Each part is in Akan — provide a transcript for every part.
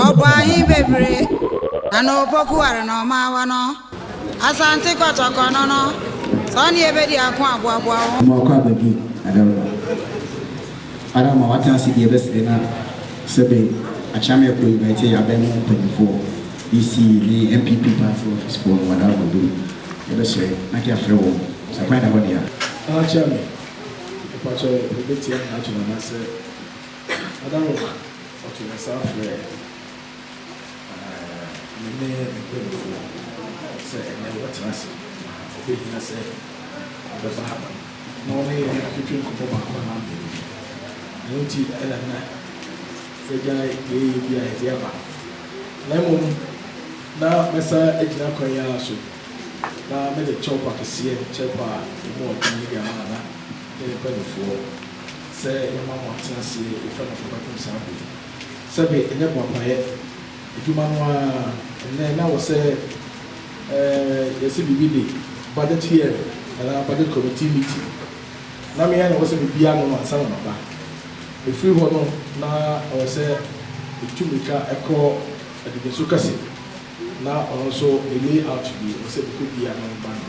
Ɔbɔɔ he bebree na na opoku ware na ɔmaa wɔ no Asante kɔtɔkɔ no no sɛ ɔne yɛ bedi ako a boaboa wo ho. Ɔma ɔkɔ aba bi ada wo ara ama w'atena ase bi ɛbɛsere na sɛ bɛ akyea me ɛkɔ invite yɛ abɛn mu mpanyinfoɔ DC ne NPP party office foɔ no wɔda wɔn dom ɛbɛsere na ke afrɛ wɔn sɛ kwan da hɔ dea. Akyea me mpakyɛw yɛbetia me ato no anaa sɛ. Ada wo ma ɔto ne sa frɛ me ne me mpanimfoɔ sɛ ɛnnɛ wɔbɛtena ase na ɔbɛhia sɛ ɔbɛba ha na ɔne yɛn atwetwe nkɔmmɔ baako anaa mmienu. Ɛno nti na na yɛagyae deɛ yɛyɛ biara a yɛde aba na mmom na mɛsan agyina kwan yi ara so na mede kyɛwpa kɛseɛ, kyɛwpa a ɛmu yɛ den yi de ama Nana ne ne mpanimfoɔ. Sɛ yɛma wɔn nteaseɛ a, yɛfrɛ no fapapem saa bere yi. Sɛbe ɛnyɛ boapayɛ adwuma no ara a, ɛnnɛ na ɛwɔ sɛ yɛse biribi de budget hearing anaa budget committee meeting. Na me ara na ɛwɔ sɛ mebue ano no ansa na maba. Mefiri hɔ no, na ɛwɔ sɛ metu mmirika kɔ Adidiso Kɛse, na ɔno nso ne layout bi, ɛwɔ sɛ mekɔbue ano ba no.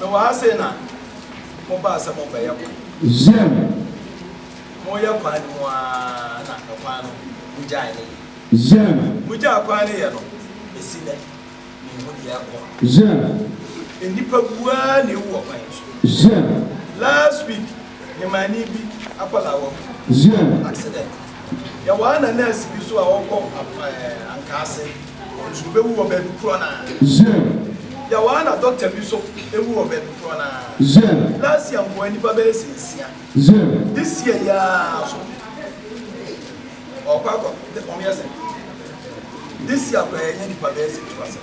Mewɔ ha sei na mo baa sɛ mo bɛyɛ kwan. Zem. Mo yɛ kwan no mu aa na ɛkwan no mo gyae ne yɛ. Zem. Mo gyaa kwan no yɛ no besi nɛ me nhu deɛ ɛkɔ. Zem. Nnipa bu aa na ewu ɔkwan no so. Zem. Last week. Yemani bi akwadaa wɔ mu. Accident. Yɛwɔ ana nurse bi nso a ɔkɔ Ankaase. Ɔnso ɔbɛwu wɔ baabi korɔ no ara. Yɛwɔ ana doctor bi nso ɛwu wɔ baabi korɔ no ara. Last year nkoaa nnipa bɛyɛ sɛ nsia. This year yi ara nso ɔɔkɔ akɔ wɔn yɛ sɛ. This year koraa yɛanya nnipa bɛyɛ sɛ two asɛm.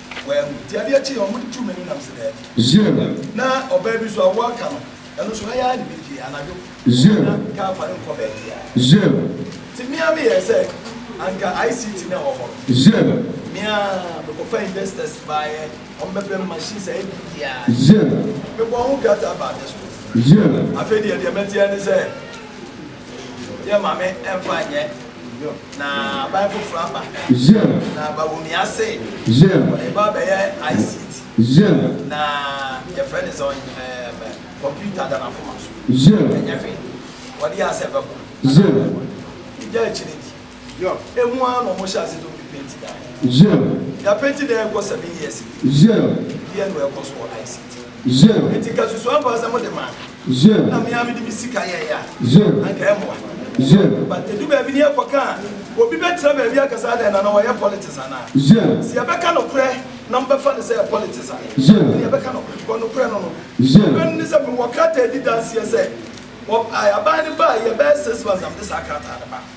wɔahu. Nti adeɛ kye yɛ wɔn tu m'ani nam se daabi. Zero. Na ɔbaa bi nso a wo aka no ɛno nso ha yi ara na ebi pie anadwo. Zero. Na car fa no nkɔ baabi a. Zero. Nti me ara me yɛɛ sɛ anka ICT no a ɛwɔ hɔ no. Zero. Me ara me kɔ fa investors baayɛ wɔn bɛ brɛ me machines ayɛ biribi ara. Zero. Me bɔɔ ho krataa baa district. Zero. Afei deɛ deɛ mɛte ara ne sɛ. Yɛ ma me ɛmfa nyɛ na aban foforɔ aba na Bawumia se ɔde ba bɛyɛ ICT na yɛfrɛ ne sɛ ɛɛm computer da n'akoma so ɛnyɛ hwee ɔde yɛ asɛ bɛko anaa bɛko ɛgya akyire di. Yob, emu ara na wɔhyɛ ase tɔ pipenti daa hɔ. Yob. Daa penti daa ɛkɔ seven years ni. Yob. Deɛ na ɛkɔ so wɔ ICT. Yob. Enti nka susu ampa sɛ mode maa me. Yob. Na me ara mede me sika yɛɛ a. Yob. Anka ɛmmoa. Yob. But ɛdu baabi ne yɛkɔ ka a, obi bɛtena baabi aka sɛ adɛn Nana wɔyɛ politics anaa? Yob. Sɛ yɛbɛka nokorɛ na mobɛfa no sɛ ɛyɛ politics a, Yob. ɛnneɛ yɛbɛka nokorɛ because nokorɛ no no, Yob. nokorɛ no ne sɛ mewɔ krataa a ɛdi danseɛ sɛ wɔb, I, aban no baa yɛ bɛyɛ six months na mede saa krataa no baeɛ.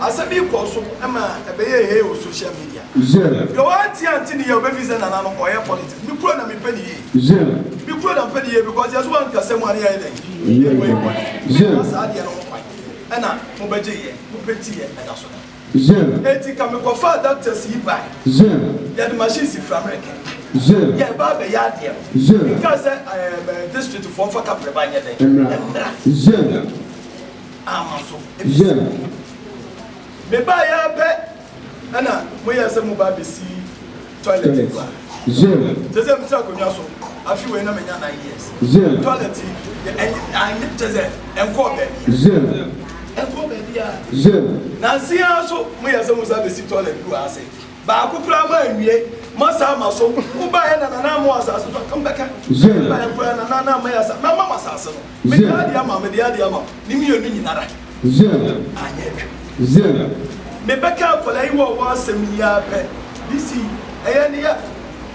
Asɛm yi kɔɔ so ma ɛbɛyɛɛ hee wɔ social media. Deɛ wantie ante ne yie a ɔbɛ feel sɛ Nana no ɔyɛ politics. Me kuro na me pɛ ne yie. Me kuro na mpɛ ne yie because yɛ so wa nkasa mu a ne yɛ ayɛ dɛn? Yɛ yɛ bɔ yɛ bɔne. Na saa adeɛ no ho kwan ɛna mo bɛ gye yɛ, mo pɛ nti yɛ ɛda so da. Enti ka me kɔ faa doctors yi bae. Yɛ de machine si fira mmerɛ kɛ. Yɛ ɛba abɛ yɛ adeɛ no. Me kaa sɛ ɛɛm district foɔ nfa kaprɛ ba nyɛ dɛn? Mmra. amma so. Yɛn. Mebaeɛ ara pɛ na moyɛɛ sɛ moba abɛsi toilet yi kwa. Yɛn. Kyerɛ sɛ metra akonnwa so afe wei na manya nine years. Yɛn. Toilet yi, yɛ, anyɛ, kyerɛ sɛ ɛnkɔɔ baabiara. Yɛn. Ɛnkɔɔ baabiara. Yɛn. Nansa yi ara nso moyɛɛ sɛ mosan abɛsi toilet bi wɔ ha sɛ Baako koraa ma anwie. Ma saa ma so. Wo baa yɛ na nana ama wo asase so aka mbɛka. Wo baa yɛ koraa na nana ama yɛ asase. Mɛ ma wo asase no. Me de adeɛ ama wo, me de adeɛ ama wo. Ne mmienu nyinara. Anyɛ adwuma. Me bɛka akwadaa yi wɔ wɔ asɛm yi ara pɛ. This yi, ɛyɛ ne ya.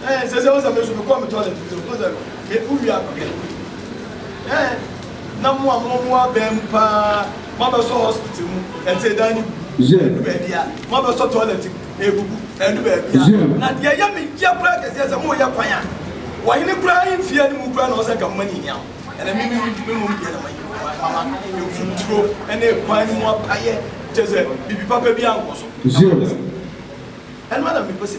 Eh sese wo sɛ me nso me kɔ me toilet bi wo sɛ me wo wia no hwɛ eh na mo a mo mo abɛn mu paa mo abɛsɔ hospital mu ɛte dan ne gu ɛdu baabi a mo abɛsɔ toilet egugu ɛdu baabi a na deɛ ɛyɛ me yɛ kura kɛseɛ sɛ mo yɛ kwan a wɔhene kura yi mfie ne mu kura na ɔsɛ nka mo ani hia ɛna me me me nom deɛ na ma mama mfuturo ɛna ekwan ne mu apayɛ kyɛ sɛ bibi papa bi ankɔ so ɛno na mepɛ sɛ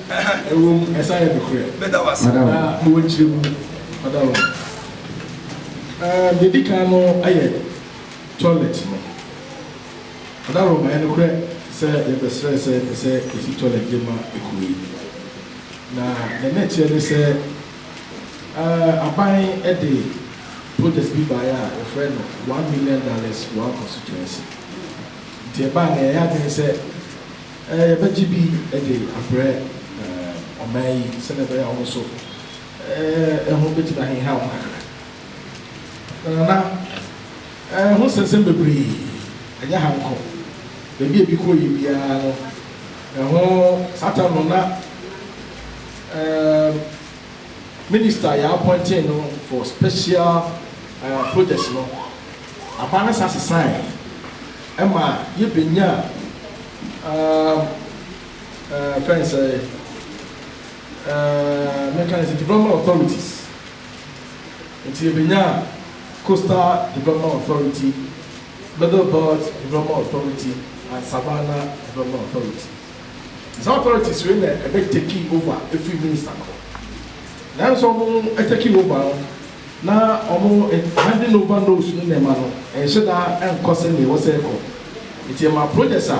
Ɛwom, ɛsan yɛ nokorɛ. Meda wo ase. Na mewɔ nkyerɛmu. Meda wo. Ɛɛ, deɛ ɛdi kan no yɛ toilet no. Adarom, ɛyɛ nokorɛ sɛ yɛbɛsrɛɛ sɛ ɛsɛ sɛ yɛsi toilet de ma kuro yi. Na deɛ na ɛteɛ ne sɛ, ɛɛ, aban de project bi baeɛ a wɔfrɛ no one million dollars one constituency. Nti ɛbaeɛ no, yɛyɛ adwene sɛ. Yɛbɛgye bi de abrɛ ɔman yi sɛnea ɛbɛyɛ a wɔn nso ho betumi ahinhaw wɔn kakra. Nana, ho nsɛnsɛm bebree, ɛnyɛ ha nko. Baabi a ebi kɔ yɛ biara no, ɛho saa tam no na Minister a yɛapɔntee no for special projects no, aban no san sesae. Ɛma yebenya yɛfrɛ no sɛn mɛka no sɛ development authorities nti yɛbɛnya coastal development authority, middle belt development authority and savannah development authority saa authorities wei na ɛbɛ taking over ɛfiri minister no hɔ nanso wɔn taking over no. Na wɔn handing over notes no nneɛma no nhyɛ da nkɔ sɛnea ɛwɔ sɛ ɛkɔ. Enti ɛma projects a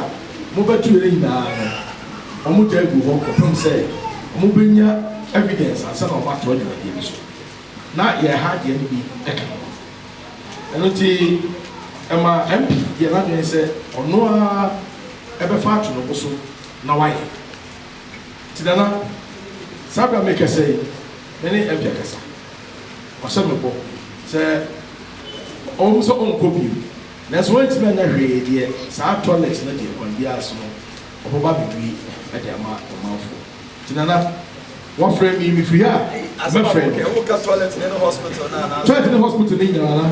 mobɛtoeɛ nyinaa no, wɔgyae gu hɔ kɔpem sɛ wɔbɛnya evidence ansa na wɔatoa dwumadie no so. Na yɛn ha deɛ no bi ka ho. Ɛno nti ɛma MP yɛɛ n'adwene sɛ ɔno ara bɛfa ato ne bo so na wayɛ. Nti Nana, saa berɛ a merekasa yi, me ne MP akasa. Ɔhyɛ me bɔ sɛ ɔwɔ mu sɛ ɔnkɔ bio, nanso wantumi anyɛ hwee deɛ saa toilet no deɛ kwan biara so no ɔbɛba abɛbue de ama ɔmanfoɔ. Nti Nana, wɔfrɛ me yi mefiri ha a mɛfrɛ no. Toilet ne hospital no nyinaa,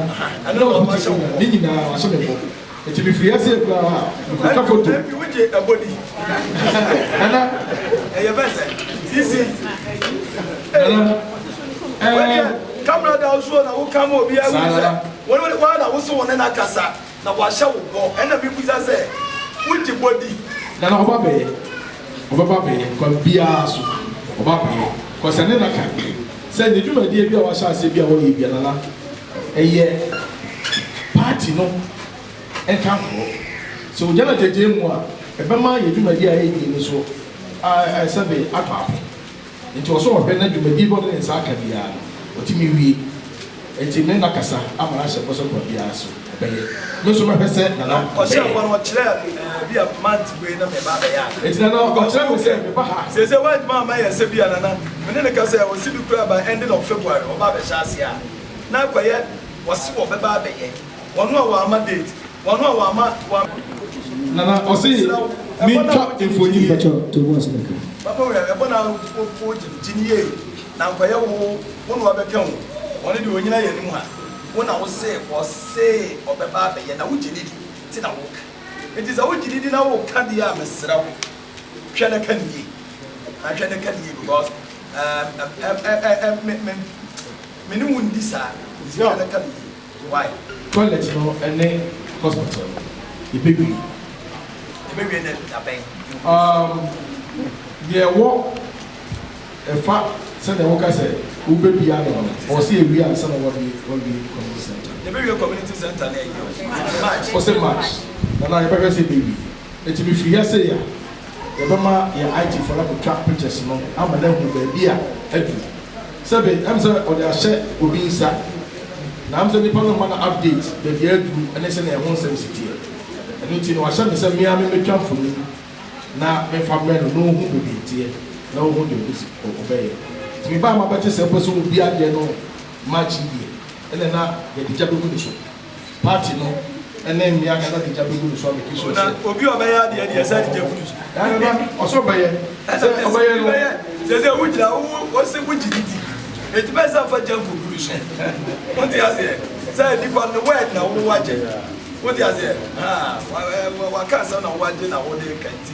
ne nyinaa wɔahyɛ me bɔ. Nti me firi aseɛ koraa mekɔtwa foto. Ɛnti wo gye ɛbɔ di. Nana. Ɛyɛ bɛ sɛ. Sisi. Nana. Ɛɛ. Kamara da nsuo na wo kama obi awu sɛ. Wɔn wɔn wɔn na woso wɔn na kasa na wahyɛ wo bɔ ɛna mi busa sɛ wo gye bɔ di. Nana ɔba bɛyɛ ɔbɛba bɛyɛ kwa biara so ɔba bɛyɛ kɔsɛ ne na ka sɛ ne dwumadie bi a wahyɛ aseɛ bi a wɔyɛ bi a nana. Ɛyɛ party no nkanfoɔ. Sɛ ogya no agyagyae mu a, ɛbɛma yɛn dwumadie a yɛredi no so ayɛ sɛ de atɔ apem. Nti ɔsɔ ɔhwɛ na dwumadie bi a ɔde ne nsa aka biara no, watumi wie. Nti me nakasa ama no ahyɛ bɔ sɛ kwa biara so ɔbɛyɛ. Me nso mɛhwɛ sɛ Nana bɛyɛ. Ɔhyɛɛ bɔ no, ɔkyerɛɛ me bi a month wei na mereba abɛyɛ a. Nti Nana ɔkyerɛɛ me sɛ meba ha. Seesei wantumi amma yɛn sɛ bi a Nana, me ne no kasa yi, ɔse bi koraa by ending of February ɔba abɛhyɛ aseɛ a. na akɔyɛ wɔse wɔbɛba abɛyɛ wɔn a wɔama date wɔn a wɔama wɔn. Nana ɔse mentwa mfonyin. Papa wei ɛbɔ na wo gye no yie na nkɔyɛ wo wo na wɔbɛka o wɔn deɛ wɔnyina yɛn anim ha wo na wo se wɔse wɔbɛba abɛyɛ na wo gye no di nti na wo ka nti sɛ wo gye no di na wo ka deɛ a mesrɛ wo hwɛ na ka no yie hwɛ na ka no yie because Toilet no ne hospital no yɛbɛwie. Yɛbɛwie no dabɛn? Um, deɛ ɛwɔ ɛfa sɛdeɛ woka sɛ wobɛbie ano no, ɔwɔ sɛ yɛwie ansa na wɔawie community centre. Yɛbɛwie community centre no ɛyi o, March. Ɔse March, na na yɛbɛhwɛ sɛ yɛbɛwie. Nti mefiri ha sei a. Yɛbɛma yɛn IT foɔ no akɔtwa pictures no ama no ahu baabi a adu. Sɛbe ɛm sɛ ɔde ahyɛ obi nsa, na ɛm sɛ nipa no mma no update baabi a aduru ne sɛnea ɛho nsɛm si teɛ. Ɛno nti no wahyɛ me sɛ me ara memmɛtwa mfonin na memfa mmrɛ no na ɔhu baabi a ɛteɛ na ɔhu deɛ ɔbɛsi ɔbɛyɛ. Nti mebaa ma bɛte sɛ wopɛ sɛ wobu adeɛ no match yi deɛ, ɛnna na yɛde gya bɛgu ne so. Party no ne mmea kasa de gya begu no so abɛki so sɛ. Na obi a ɔbɛyɛ adeɛ deɛ ɛsɛ de gya gu no so. Daa ne ba, ɔsɛ ɔbɛyɛ. Sɛ ɔbɛyɛ no. Sɛ sɛ wogyina wo wose wogye ne di. Enti bɛyɛ sɛ fa gya nkɔgu no so. Wote aseɛ? Sɛ nipa ne word na wo wagye. Wote aseɛ? Haa, waka asɛm na wagye na wode reka nti.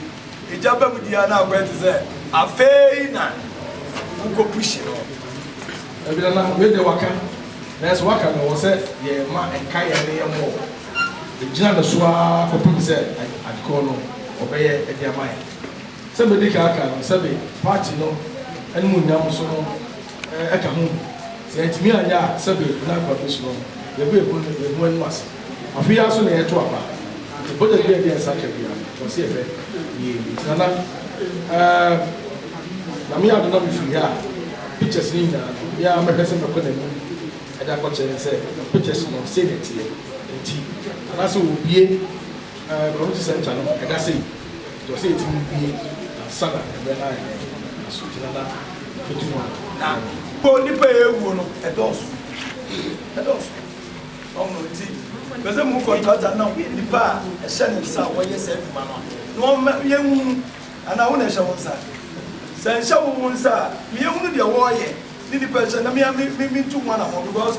Egya ba mu di a na akɔyɛ te sɛ afei na wokɔ pushi no. Dabi nana wei deɛ waka nanso waka no wɔ sɛ yɛn ma ɛnka yɛn ne yɛn mmɔ wɔ ɛgyina no so ara kɔpem sɛ adekɔɔ no ɔbɛyɛ ɛde ama yɛn sɛ mɛdi kan aka no sɛbe party no animuonyam so no ka ho bi. Sɛ yɛantumi anyɛ a, sɛbe na nkwa besu no ho. Yebehu no, yebehu anom ase. Afe yi ara so na yɛreto aba, enti bɔdya biara a ɛde yɛn nsa ka biara no, ɛwɔ sɛ yɛhwɛ yie. Enti Nana, ɛɛm, Nyame yɛ adom na mefiri ha a, pictures no nyinaa no, me ara mɛhwɛ sɛ mɛkɔ n'anim de akɔkyerɛ no sɛ pictures no, sei na ɛteɛ. Enti, anaasɛ wɔrebue. Toronto Centre no ɛda sei nti ɔsɛ yɛtumi wie ansa na ɛberɛ no ayɛ dɛn na so gyina na fatu mu a na ɛno. Mpo nnipa a ɛrewuo no ɛdɔɔso ɛdɔɔso wɔn no nti ɛpɛ sɛ mu contractor no nnipa a ɛhyɛ ne nsa a wɔyɛ saa adwuma no a na wɔn ma yɛnhunu anaa wo na ɛhyɛ wo nsa sɛ ɛnhyɛ wo wo nsa a ma yɛnhunu deɛ wɔreyɛ ne nnipa ɛhyɛ na me a me me mentu ho anamɔ because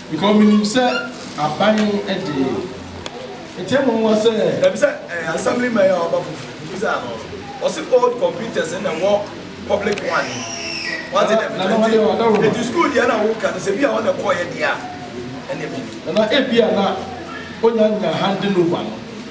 Because minim sɛ aban no de. Ɛkyɛ mo nwa sɛ. Dabi sɛ ɛyɛ assemblyman yi a waba foforo nti sɛ ano no ɔse old computers no na ɛwɔ public one no mu wate dɛm nti nti school deɛ na woka no sɛ bia ɔna ɛkɔɔyɛ deɛ a ɛneɛ mennim. Nana ebia na ɔnya nya handing over no.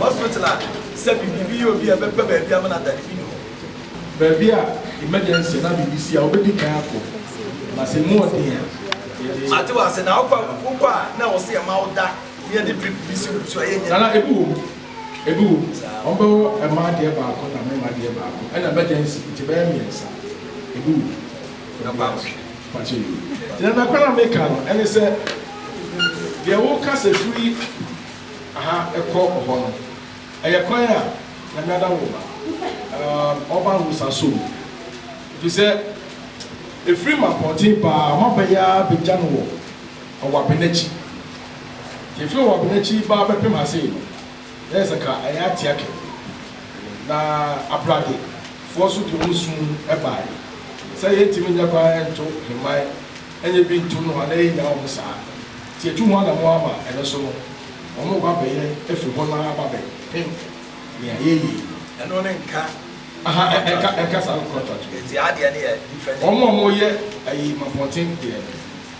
Hospital a sɛ biribi yɛ obi a ɛbɛba baabi ama no ada no bi nni hɔ. Baabi a emergency anaa biribi si a wobedi kan akɔ na sɛ emu yɛ den a yɛde. Mate w'ase. Na wokɔ a wokɔ a na ɛwɔ sɛ yɛma wo da na yɛde drip bi si wo so a ɛyɛ nyɛ. Nana ebi wom ebi wom wɔbɛwɔ mmaa deɛ baako na mmarima deɛ baako ɛna emergency nti ɛbɛyɛ mmiɛnsa ebi wom. Ɛbɛboa wo. Na nokwar a meka no ne sɛ, deɛ woka sɛ firi ha kɔ hɔ no, ɛyɛ kwan a Nyame ada wo ma, ɔba nwosaso mu, ɛfiri sɛ ɛfiri Mampɔnten baa Ɔmaba yi ara bɛgya no wɔ Ɔwabenakyi, nti ɛfiri Ɔwabenakyi baa bɛpem ha sei no, Na yɛ sɛ ka ɛyɛ atea kɛkɛ. Na aprade foɔ so de wɔn sum bae. Sɛ yɛ ntimi nyɛ kwan nto hemman nyɛ bi ntom no a na yɛ nnya wɔn saa. Nti yɛ tu ho anamɔn ama ɛno so no wɔn mo ba bɛyɛ afiri hɔ no ara ba bɛ pem nea yɛ yɛ yi. Ɛno ne nka contract no. Nka saa contract no. Nti adeɛ no yɛ different. Wɔn a wɔn yɛ ayi mapɔnten deɛ no.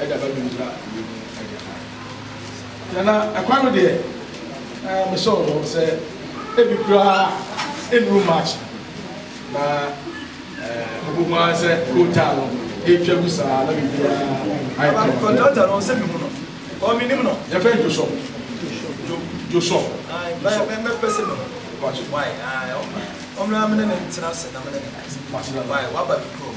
ɛde aba biribiara a ɛwɔ mu de ama yɛn. Deɛ na ɛkwan no deɛ, na mesɔ wɔ hɔ sɛ ebi koraa nnuru March na wobɛhu ara sɛ kootaa no yɛtwa gu saa na biribiara ayɛ kama. Kɔntrata no ɔsɛ bi mu no, ɔmenim no. Yɛfrɛ no Josɔ. Josɔ. Mɛpɛ sɛ mehu. Why? Ɔmmra me ne ne ntena ase na me ne ne nkasa. Why? Waba me kurom.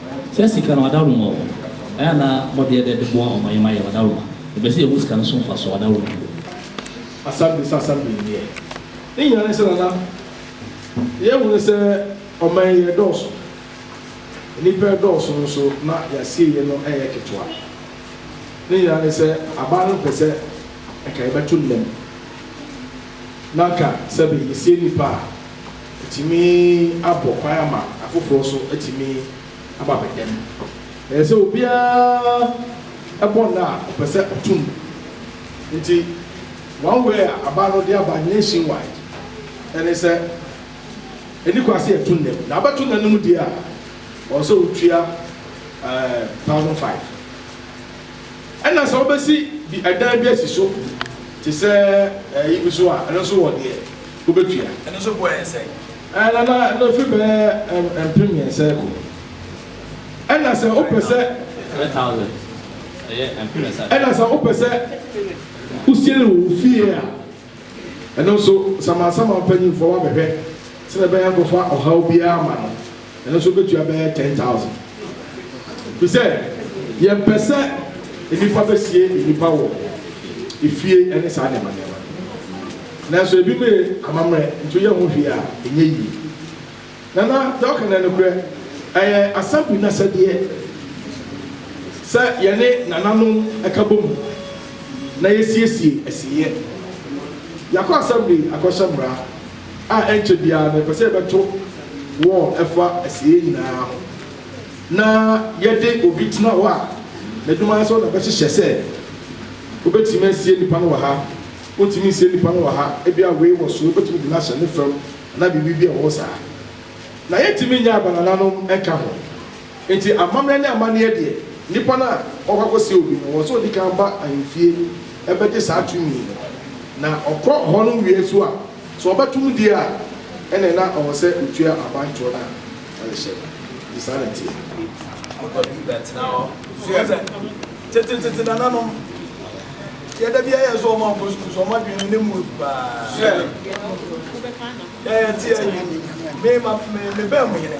Sɛ sika no adaworoma wɔ hɔ, ɛyɛ a na wɔdeɛ dɛ de boa wɔn yɛma yɛ ɔdaworoma. Yɛpɛ sɛ yɛhu sika no so mfasoɔ wɔ adaworoma mu. Asabere sɛ asabere nneɛ. Ne nyinaa ne sɛ na na yɛhunu sɛ ɔman yi ɛdɔɔso. Nnipa ɛdɔɔso nso na yɛasieɛ no ɛyɛ ketewa. Ne nyinaa ne sɛ aban no pɛ sɛ ɛka yɛbɛto nna mu. Na ka sɛbe yɛsie nnipa a Ɛtumi abɔ kwan ama afoforɔ nso atumi aba bɛda mu. Ɛyɛ sɛ obiara bɔ nna a ɔpɛ sɛ ɔto mu. Nti one way a aba no de aba nation wide ɛne sɛ ɛni kwan sɛ yɛto nna mu. Na abɛto nna no mu deɛ a, ɔwɔ sɛ wotua ɛɛ thousand five. Ɛna sɛ wobɛsi bi ɛdan bi asi so te sɛ ɛyi bi so a, ɛno nso wɔ deɛ. wobetua. Ɛno nso boɔ yɛn sɛn? Ɛɛ, Nana, ɛno ɛfiri bɛyɛ mpem mmiɛnsa rekɔ. Ɛna sɛ wopɛ sɛ. Three thousand, ɛyɛ mpem mmiɛnsa. Ɛna sɛ wopɛ sɛ wosie no wɔ wo fie a, ɛno nso, samansaman mpanyimfoɔ bɛhwɛ sɛdeɛ ɛbɛyɛ a nkɔfa ɔhaw biara ma no. Ɛno nso bɛtua bɛyɛ ten thousand. Firi sɛ yɛmpɛ sɛ nnipa bɛsie nnipa wɔ efie ne saa nneɛma nneɛma no. Nanso ebinom yɛ amammerɛ nti woyɛ ho hwee a ɛnyɛ yie. Nana deɛ ɔka no yɛ nokorɛ. Ɛyɛ Assembly no asɛdeɛ sɛ yɛne nananom ka bɔ mu na yɛsiesie asieyɛ. Yɛakɔ Assembly akɔhyɛ mmara. a ɛnkyɛ biara no yɛpɛ sɛ yɛbɛto wɔn ɛfa asieyɛ nyinaa ho na yɛde obi tena hɔ a n'adwuma ara sɛ ɔna bɛhyehyɛ sɛ wobɛtumi asie nipa no wɔ ha wontumi nsie nipa no wɔ ha ebia wei wɔ so wobɛtumi de no ahyɛ ne fam anaa biribi bi a ɛwɔ saa na yɛntumi nyɛ abanananom nka ho Enti amammerɛ ne amanneɛ deɛ, nnipa no a wɔkɔ akɔsɛe obi no, wɔn sɛ ɔdi kan ba ahemfie bɛgye saa tumi no, na ɔkɔ hɔ no wie nso a, sɛ ɔbɛto mu die a, ɛnneɛ na ɔwɔ sɛ ɔtua abantoɔ no a ɔde hyɛ no. Enti saa na ɛteɛ. Mokɔ bi bɛtena hɔ. Susuɛ sɛ, tetetete nananom, deɛ da biara yɛn sɛ wɔn ankɔ sukuu, sɛ wɔn adwene no ne mu agu paa. Susuɛ deɛ yɛte yɛn, me, me, me bɛn mo hene.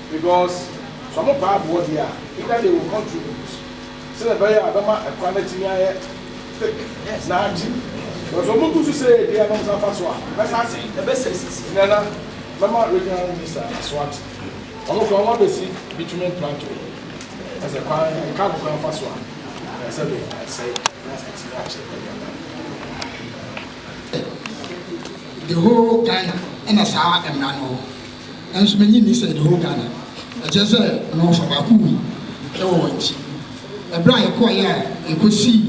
Because sɛ ɔmo paa aboɔ deɛ a, either they will contribute sɛdeɛ ɛbɛyɛ a ɛbɛma ɛkwan no atumi ayɛ thick na agye. But sɛ ɔmo gu so sei deɛ na ɔmo san fa so a, ɛbɛsan asɛe. Ɛbɛsɛe sisi. Nana, mɛma Regional Minister na SWAT, ɔmo koraa ɔmo abɛsi bitumen planto yi. Ɛsɛ sɛ kwan, car no koraa fa so a, ɛyɛ sɛ dɛn, ɛsɛe na atumi akyɛ baabi a ɛda no. The whole Ghana na saa mmara no wɔ. Nanso minnye nni sɛ the whole Ghana, ɛkyerɛ sɛ wɔfa baako wu wɔ wɔn ti. Ɛberɛ a yɛkɔɔeɛ a yɛkɔsii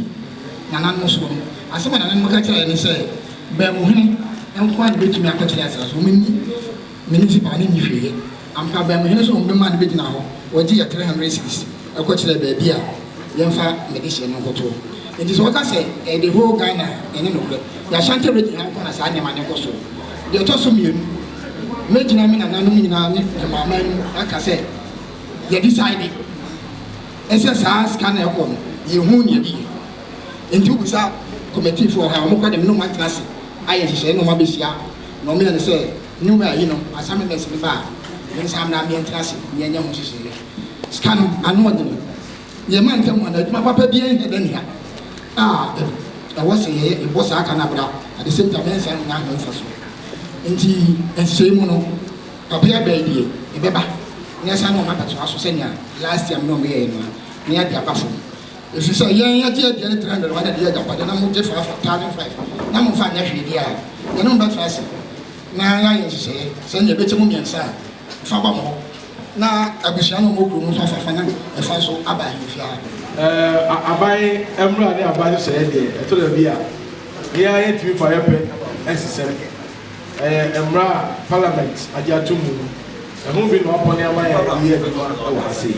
Nana no soɔ no, asɛm a Nana no ka kyerɛɛ yɛn ne sɛ, Bɛɛmo hene nko ara na ɛbɛtumi akɔkyerɛ asaase so. Wɔnni municipal, ne nni hwee yɛ. Ampa, Bɛɛmo hene nso na wɔbɛmaa no bɛgyinaa hɔ, wɔgye yɛ three hundred cedis kɔkyerɛɛ baabi a. yɛmfa yɛn de hyɛ no nkɔtoɔ. Nti sɛ wɔka sɛ ɛyɛ the whole Ghana a, ɛnyɛ nokorɛ. Yɛn Ashanti region ha nko na saa nneɛma no kɔ so. Deɛ ɛtɔ so mmienu, mɛgyina me nananom nyinaa ne me maame anim aka sɛ yɛ decide sɛ saa sika no a ɛkɔ no, yɛnhuu deɛ ɛde yɛ. Nti wobisa committee foɔ ha a, wɔkɔ de me ne wɔn atena ase ayɛ nhyehyɛeɛ na wɔabɛhyia na wɔyɛ no sɛ new year yi no, assemblies no ba a, me nsa mmra meɛntena ase meɛnyɛ ho nhyehyɛeɛ. Sika no, ano ɔden. Yɛ ma ntɛm anaa adwuma papa biara nhia dɛ nea a ɛwɔ sɛ yɛyɛ, yɛbɔ saa ka no abira, at the same time ɛnsan nnya ho mfaso. Enti nhyehyɛe mu no, ɔbea bɛn deɛ ɛbɛba na yɛsan ne wɔn abɛtoa so sɛnea last year me ne wɔn yɛeɛ no a, na yɛde aba fam. Ɛfiri sɛ yɛn yɛgye aduane 300 wɔn de yɛ agyapadeɛ na mogye fa afa 1500 na momfa nyɛ hwee deɛ a, yɛne mo bɛtra ase na yɛayɛ nhyehyɛeɛ sɛ nea ɛbɛkyɛ mu mmiɛnsa a, fa ba mo hɔ. Na abusua no mmɔ kuro no fa fafa na ɛfa so aba ahemfie ara pɛ. Eh, aban mmara ne aban nhyehyɛeɛ deɛ, ɛtɔ da bi a, yɛn ara yɛntumi fa yɛ pɛ nsesam. Ɛyɛ mmara a Parliament agye atom mu no, ɛho bi na wɔapɔne ama yɛn de reyɛ adwuma wɔ ha sei.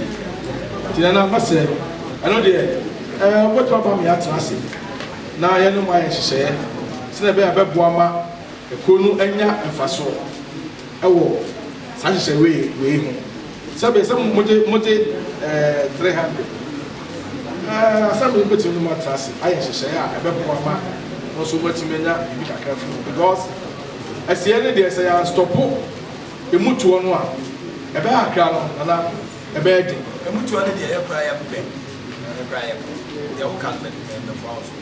Nti Nana, mɛsrɛ, ɛno deɛ, eh, wobɛtumi aboa me yɛatena ase na yɛne mo ayɛ nhyehyɛeɛ sɛdeɛ ɛbɛyɛ a ɛbɛboa ma kuro no anya mfasoɔ. wɔ saa nhyehyɛe wei wei ho, sɛbe sɛ mogye mogye eh, 300 eh, asɛm yi betumi ne mo atra ase ayɛ nhyehyɛe a ɛbɛboa ma mo nso moatumi anya biribi kakra afiri mu, because asiɛ no deɛ sɛ yɛanstɔpo emu toɔ no a, ɛbɛyɛ akra no nana, ɛbɛyɛ den. Emu toɔ no deɛ yɛ koraa yɛmpɛ, yɛ koraa yɛmpɛ, deɛ woka no mɛ mɛfoa wo so.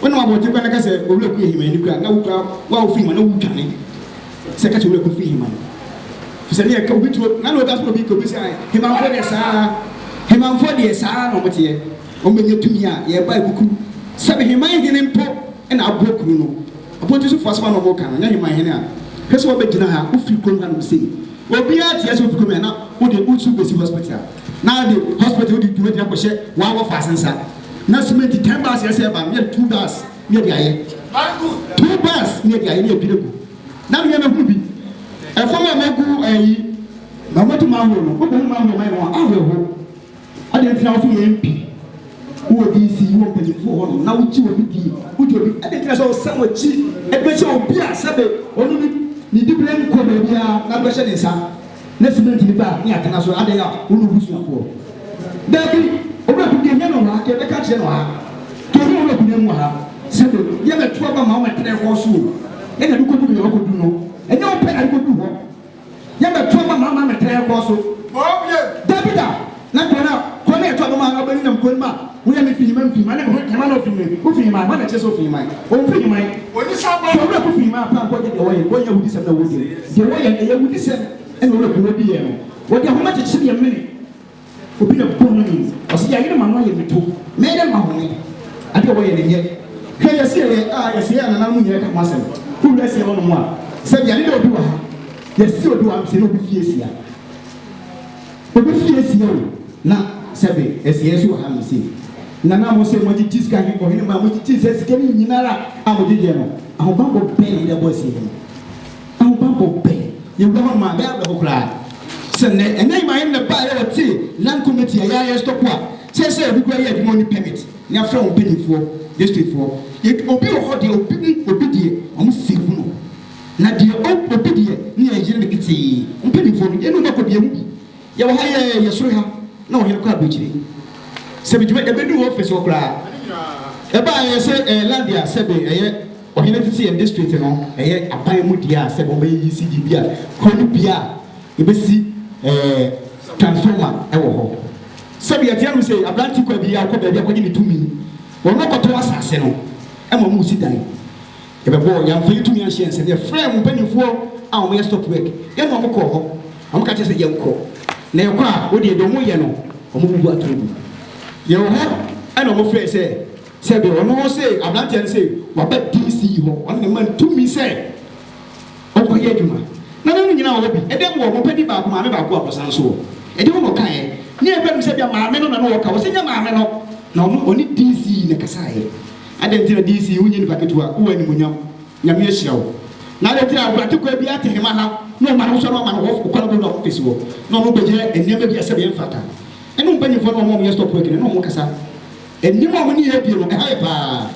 Wo nam abɔnten kwan na ka sɛ, Owura Ku Ahiman ni koraa a, na wo koraa wo a wofi Ahiman no wudwane sɛ ka kyerɛ Owura Ku fi Ahiman. Efisɛ ne yɛ ka obi turo na na ɔda so na obi ka obi sɛ ae. Ahimanfoɔ deɛ saa ara, Ahimanfoɔ deɛ saa ara na wɔteɛ. Wɔbɛnya tumi a yɛreba akuku sɛ Ahiman hene mpo na aboa kuru no. Abɔnten sofoɔ asɛm a na wɔreka no, nyɛ Ahiman hene a hwɛ sɛ wabɛgyina ha, wofiri kurom hanom sei. Obiara teɛ sɛ wofi kurom ha na wode wo turo bɛsi hospital na wode hospital wode dwuma bi akɔhyɛ w'awɔfa ase nsa. na simenti ten bars yɛ sɛ ɛba no na yɛde two bars na yɛde ayɛ two bars na yɛde ayɛ na yɛdwiri gu na mmea bɛhunu bi ɛfam a magu ayi na wɔde ma ahoɔ no wobɛhu ma ahoɔ ma yɛ wɔn ahoɔ ho ade nti na wɔso yɛ mp wowɔ dc wɔ mpanimfoɔ hɔ no na wogye obi di wogye obi ade nti na sɛ ɔsɛ wɔkyi ɛbɛhyɛ obi a sɛbe ɔno ne ne dibire nkɔ baabiara na bɛhyɛ ne nsa ne cement ne baa ne atena so adɛn a wo ne wo busuafoɔ daabi owura ku deɛ hia no wɔ ha kɛ bɛka kyerɛ no wɔ ha deɛ hia owura ku no mu wɔ ha sɛ me yɛ bɛto aba ma wo mɛ trɛ hɔ so o ɛna ɛde kɔdu yɛ ɔkɔdu no ɛnyɛ wo pɛ na ɛde kɔdu hɔ yɛ bɛto aba ma ma mɛ trɛ hɔ so daabi da Na bere a kɔ no a ɛtɔ do maa no bɛ no nam kɔ no mu a, woyɛ me finyiman finyiman ne me ho heman a ofi me ho finyiman, hwan na ɛkyerɛ sɛ ofi heman? Omfi heman. Onipa ba. Sɛ owura ko finyiman a, paa nkɔgye deɛ wɔyɛ, wɔnyɛ awudisɛm na wodi no. Deɛ wɔyɛ no, ɛyɛ awudisɛm na owura ko no diiɛ no. Wɔde ahoma kyekye deɛ mene obi na bɔ no mu. Ɔse yayere m'ano ayɛ me to, mɛyɛ dɛn mahome? Adeɛ a wɔyɛ no nyɛ. Hwɛ yɛseɛ yɛ a yɛseɛ a nananom nyinaa ka ho asɛm. Wowura seɛ hɔ nom a, sɛdeɛ ne dɛ obi wɔ ha, yɛse obi wɔ ha no, sɛ ne obi fie seɛ a. Ebe fi asia o na sɛbe asia nso wɔ ha me se nana mo se mo agye gye sika he kɔ hene ma mo gye gye sɛ sika no nyinara a mo gyegyeɛ no ahobanbɔ bɛn na mo de abɔ asia yi ahobanbɔ bɛn yɛwura hɔ nom a bɛyɛ awerɛho koraa sɛ nɛ ɛnyɛ yɛ maame no na ɛbaeɛ wɔ te land committee a yɛ a yɛ stop a sɛsɛ obi kura yɛ adwuma ɔni permit ne afrɛ wɔn mpanyinfoɔ district foɔ yɛ obi wɔ hɔ deɛ obi mu obi deɛ wɔn save no Na deɛ ɔmpo obi deɛ ne yɛn yere no ketee. Mo mpanimfoɔ no, yei ne mo ba Kobie mu bi. Yɛwɔ ha yɛ yɛ soro ha na ɔhene kɔ aburokyire. Sɛ me dwuma ɛbɛduru wɔ office hɔ koraa ɛba a ɛyɛ sɛ ɛyɛ land a sɛbe ɛyɛ ɔhene tete yɛn district no ɛyɛ aban mu deɛ a sɛbe wɔbɛyɛ ECD bi a kuro no bia a yɛbɛsi ɛɛ transformer ɛwɔ hɔ. Sɛbe yɛteɛ nom sei aberante kɔ abia ɔkɔ baabi akɔgye ne tumi wɔn na ɔkɔtɔ asase no ɛma wɔn resi dan. Yɛbɛbɔɔ Nyamfrani Tumi Ahyia nsɛm. Yɛfrɛɛ mo mpanimfoɔ a wɔyɛ stop work, yɛne wɔn kɔɔ hɔ. Wɔka kyerɛɛ sɛ yɛnkɔ, na yɛkɔ a, wo deɛ deɛ wɔyɛ no, wɔbubu atorɔ gu. Yɛwɔ hɔ na wɔfrɛɛ sɛ sɛbe ɔno se aberanteɛ no se waba DC hɔ, wɔn na ɛma no tumi sɛ ɔnkɔyɛ adwuma. Na na ne nyinaa wɔ hɔ bi. Ɛdɛm wɔ hɔ, ɔpɛ bi baako, maame baako a ɔsan nso wɔ. Ɛdeɛn na ɔkaeɛ? Nea ɛbaa mu sɛ ebia maame no na na ɔka. Ɔse nyɛ maame no, na ɔno ɔne DC na ɛkasaeɛ. Adɛn nti na DC yi wonyɛ nipa ketewa, wowɔ animuonyam, Nyame ahyira wo. Na adɛn nti na aguatekoa biara te hema ha na ɔma no nsɔ no ama no hɔ kwan bɔ no office hɔ na ɔno bɛyɛ nneɛma bi a sɛdeɛ ɛmfata. Ɛne mpanyimfoɔ no a wɔn a wɔyɛ stock work no ɛne wɔn kasa. Anim a wɔne yɛn adie no ɛha yɛ paa.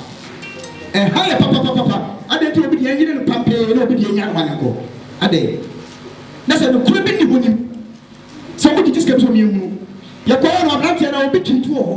Ɛha yɛ papapapapa. Adɛn nti na obi deɛ ɛnyere no pampee na obi deɛ ɛnya no ma no nkɔ. Adɛn. Na sɛ nokorɛ bi nni hɔ nim sɛ wɔgyegye sika bi sɛ wɔn yɛnhunu. Yɛkɔeɛ no aberanteɛ no obi twi ntu wɔ hɔ.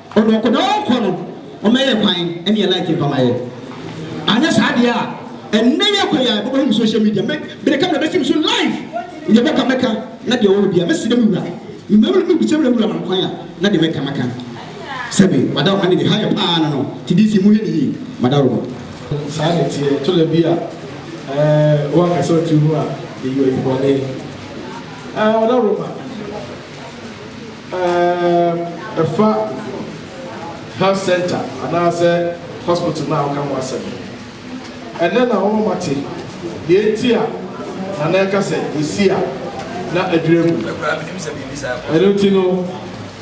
Ɔde ɔkɔdɔ kɔ no ɔmɛyɛ kwan ɛneɛ like mfa ma yɛ anyɛ saa deɛ a ɛnɛ yɛ kɔ yi a ɛbɛbɔ him social media mɛ mede camera bɛsi me so live deɛ bɛka mɛka na deɛ ɔwɔ bia mɛsrɛ me wura mema me mebisa me wura ma kwan a na deɛ mɛka mɛka sɛbe wada ɔma ne de ha yɛ paa no no ti di si mu hɛ ne yie mada ɔma saa ne teɛ to da bi a ɛɛ wa kasa ɔtu mu a eyi ɔyi bɔne ɛɛ wada ɔma. Ɛɛ, fa health centre anaasɛ hospital no a woka ho asɛm no. Ɛnnɛ na wɔma mate nea enti a Nana reka sɛ esi a na adwiri agu no. Ɛno nti no,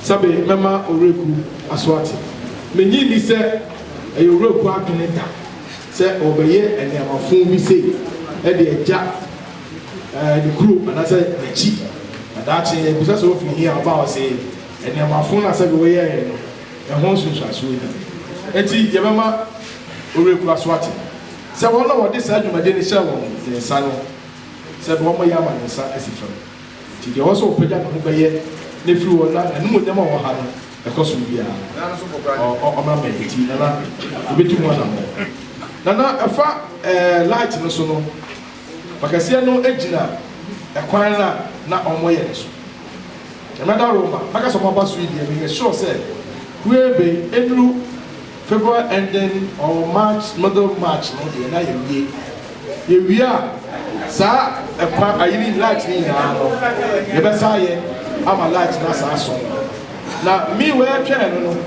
sɛbe mɛma Owuraku aso ate. Minnye nni sɛ ɛyɛ Owuraku adwene da sɛ ɔrebɛyɛ nneɛma fõ bi sei de agya. ne kurom anaasɛ n'akyi, na daakye yɛbisa sɛ ofi he a, ɔba a ɔse nnoɔma fon a sɛdeɛ woyɛeɛ no, ɛho nsunsuansoɔ ni. Enti yɛbɛma Owurekura so ate sɛ wɔn a wɔde saa dwumadie no hyɛɛ wɔn nsa no, sɛ deɛ wɔyɛ ama ne nsa asi fam. Enti deɛ ɔwɔ sɛ ɔpagya ne ho bɛyɛ na ɛfiri hɔ na n'animuonyam a ɔwɔ ha no ɛkɔ soro biara, ɔmmra mmɛn. Enti Nana, yɛbɛtu ho anammɔn. Nana, ɛfa ɛɛ light no so no. Akwakeseɛ no gyina ɛkwan no a na wɔyɛ no so. Sɛ mɛda Roma, mɛka sɛ wɔaba so yi deɛ, meyɛ sure sɛ hwee ben ɛduru February ending or March, middle March no deɛ na yɛawie. Yɛwie a, saa ɛkwan ayi no light no nyinaa no, yɛbɛsa ayɛ ama light no asan asɔ. Na me wɛɛtwɛɛ no no,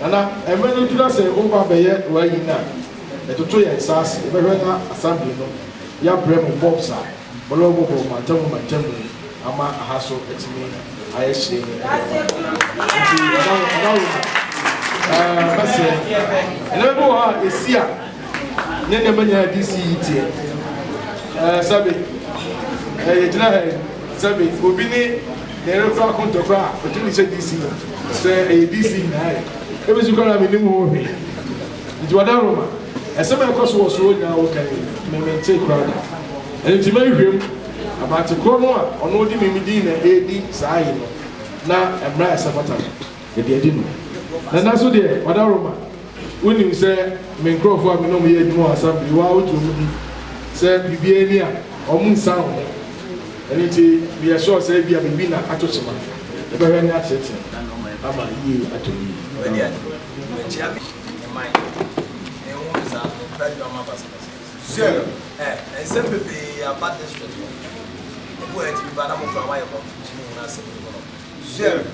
na na mmerɛ no duru na sɛ woba bɛyɛ w'ayi no a, Yɛtoto yɛn nsa ase bɛhwɛ na Assembly no yɛabrɛ mu forms a wɔde bɛbobɔ mantam mu mantam mu ama aha so atumi ayɛ hyerɛnn de ama yɛn. Nti Madam Madam Rona, ɛɛ mɛsrɛ, nneɛma bi wɔ hɔ a ɛsi a ne nneɛma nyinaa yɛ DC yi teɛ. Ɛɛ sɛbe, ɛɛ yɛgyina ha yi, sɛbe obi ne ne yere kura akonto kura a, ɔtumi de hyɛ DC mu sɛ ɛyɛ DC nyinaa yɛ. Ebi nso kura na mennim ho hwee. Nti wɔda nwoma ɛsɛm a ɛkɔ so wɔ soro nyinaa wo kan yi me mentee koraa da. Ɛno nti mɛhwehwɛm aberante korɔ no a ɔno ɔde me me din na ɛredi saa aye no na mmara a ɛsɛ fata no yɛde adi no. Na nna so deɛ wɔda nwoma wo nim sɛ me nkorɔfoɔ a me ne wɔn yɛ adwuma wɔ asamblee wo ara wo gye wɔn di sɛ biribiara ni a wɔn nsa wo ho. Ɛno nti me yɛ sure sɛ ebia biribi na ato kyema. Yɛbɛhwɛ ne ateatea ama yie atɔ yie. Wɔakyia me ne man no. Menhu no saa, menkura adwamma basabasa. Sir, eh, nsɛm bebree aba district hɔ. Ebu a etumi ba na mo koraa moayɛ confusion ho no asɛm no mu no, sir,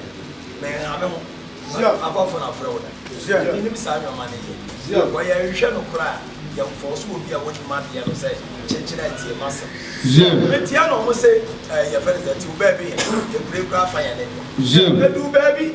menha me ho. M'abɔfo na wɔfrɛ wo no. Sir, minnim saa nneɛma no yɛ. Sir, wɔ yɛn nhwehwɛ no koraa, yɛmfɔɔ so obi a wonnim adeɛ no sɛ kyekyerɛ ntie m'asɛm. Sir, meteɛ na wɔse, eh, yɛfrɛ no sɛ, tew baabi he, yɛpirepire afa yɛn ne deɛ. Sir, bedu baabi.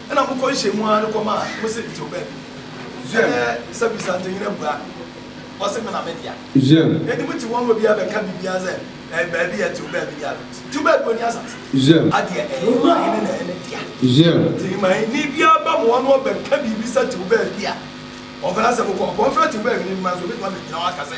Ɛna mokɔ nhyiamu ara no kɔma mo se mete ɔbaa bi mu. Ɛnɛ sabisa nti hena bua no? Ɔse me na me dea. Enti mote hɔ ama obiara bɛka biribiara sɛ ɛyɛ baa bi a ɛte ɔbaa bi dea no nti. Nti ɔbaa bi ɔni asase? Adeɛ ɛyɛ Ɔhene na ɛyɛ ne dea. Nti ma Hene biara ba mo hɔ na ɔbɛka biribi sɛ te ɔbaa bi a ɔfrɛ asɛm kɔ. Ɔpɔn frɛ te ɔbaa Hene no ma nso ɔbɛtumi abɛgyina hɔ aka sɛ.